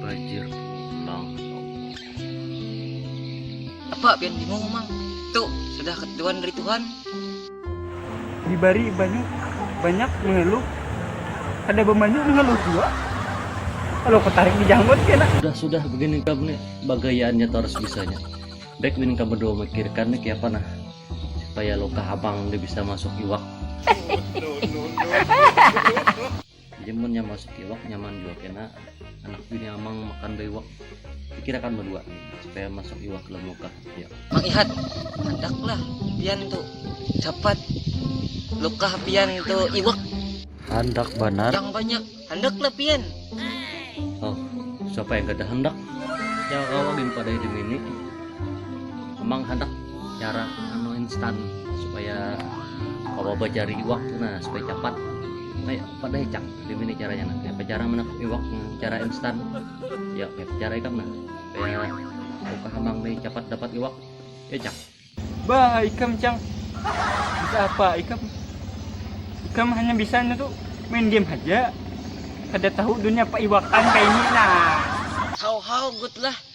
Banjir pulang. Apa pian bingung mang? Tuh sudah ketuan dari Tuhan. Dibari banyak banyak mengeluh. Ada bemanyu mengeluh juga. Kalau ketarik di janggut kena. Sudah sudah begini kamu nih bagayaannya terus bisanya. Baik ini kamu dua mikirkan nih kayak apa nah supaya lo kehabang dia bisa masuk iwak. jadi munnya masak iwak nyaman juga kena anak bini amang makan iwak pikirakan berdua supaya masuk iwak ke muka ya Mang Ihat lah pian tuh dapat luka pian itu iwak handak banar yang banyak handak lah pian oh siapa yang gak ada handak yang kau lagi pada hidup ini memang hendak cara anu instan supaya kalau cari iwak nah supaya cepat kayak pada hecak dimini caranya nah kayak cara menangkap iwak cara instan ya kayak cara ikan nah kayak buka hamang nih cepat dapat iwak ya cang bah ikam cang bisa apa ikam ikam hanya bisa itu main game aja kada tahu dunia apa iwakan kayak ini nah how how good lah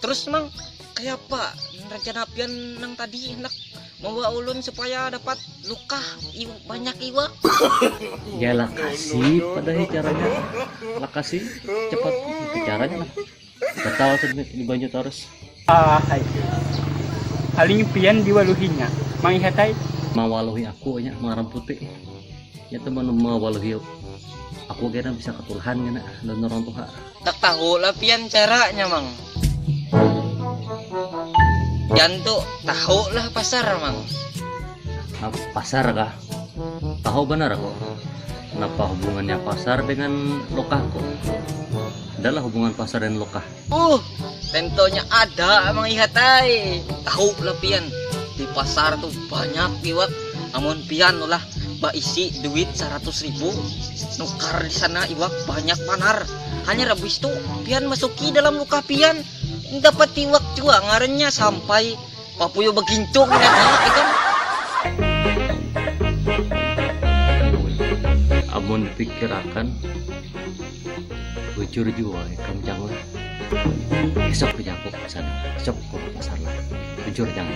Terus mang kaya apa rencana pian nang tadi hendak membawa ulun supaya dapat lukah iw, banyak iwak? ya lakasi pada caranya lakasi cepat itu caranya lah batal di banyu terus ah hai aling pian diwaluhinya manghihatai mawaluhi aku nya marang putih ya teman mawaluhi aku kira bisa ketulahan kena dan orang tuha Ndak tahu lah pian caranya mang. Pian tu tahu lah pasar mang. Apa pasar kah? Tahu banar aku. Napa hubungannya pasar dengan lokahku? Ada lah hubungan pasar dan lokah. Uh, tentunya ada mang ihat ai. Tahu lah pian di pasar tu banyak iwak. Amun pian ulah baisi duit saratus ribu nukar di sana iwak banyak panar hanya rabis tu pian masuki dalam luka pian dapat iwak jua ngarannya sampai papuyo begintung ya kan amun dipikirakan bujur jua ikam jang lah esok ku jangkuk ke sana esok ku ke pasar lah bujur jang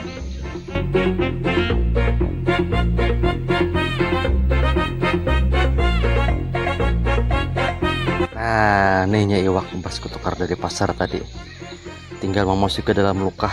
nah nihnya iwak pas ku tukar dari pasar tadi tinggal memasuk ke dalam lukah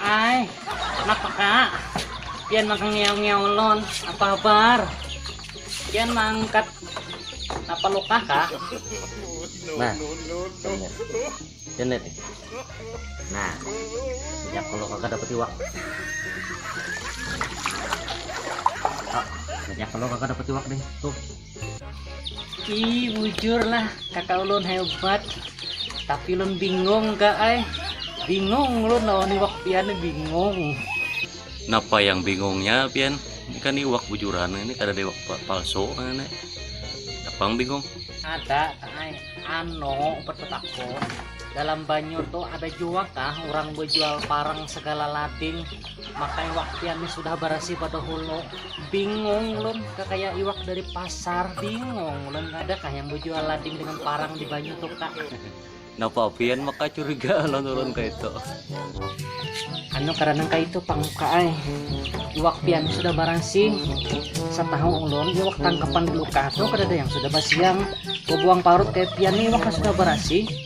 Ai, napa kak? Pian maka ngiau-ngiaulun, apa habar? Pian mangkat apa luka kak? Nah, Pian lihat nih. Nah, sejak kalau kakak dapat iwak. Kak, sejak kalau kakak dapat iwak nih, tuh. Ih, bujur lah kakak ulun hebat. Tapi ulun bingung kak ay. Bingung ulun lawan iwak pian bingung. Napa yang bingungnya pian? Ini kan iwak bujuran ini kada ada iwak palsu ini. Apa yang bingung? Ada ay. Ano berpetakun dalam banyu tuh ada juga kah orang berjual parang segala lading Makanya wak pian nih sudah barasi pada hulu bingung lun kakaya iwak dari pasar bingung lun ada kah yang bujual lading dengan parang di banyu tuh kak napa pian maka curiga lun lun kayak itu anu karena kayak itu pangka ay iwak pian sudah barasi setahu ulun iwak tangkapan dulu kah tuh kada ada yang sudah basiang buang parut kayak pian nih iwak sudah barasi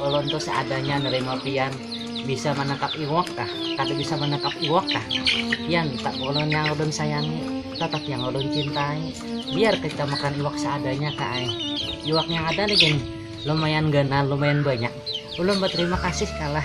Ulun tu seadanya nerima pian bisa manangkap iwak kah, kada bisa manangkap iwak kah, pian tetap ulun yang ulun sayangi, tetap yang ulun cintai, biar kita makan iwak seadanya kak ai, iwak yang ada nih gin lumayan ganal, lumayan banyak, ulun baterima kasih kalah.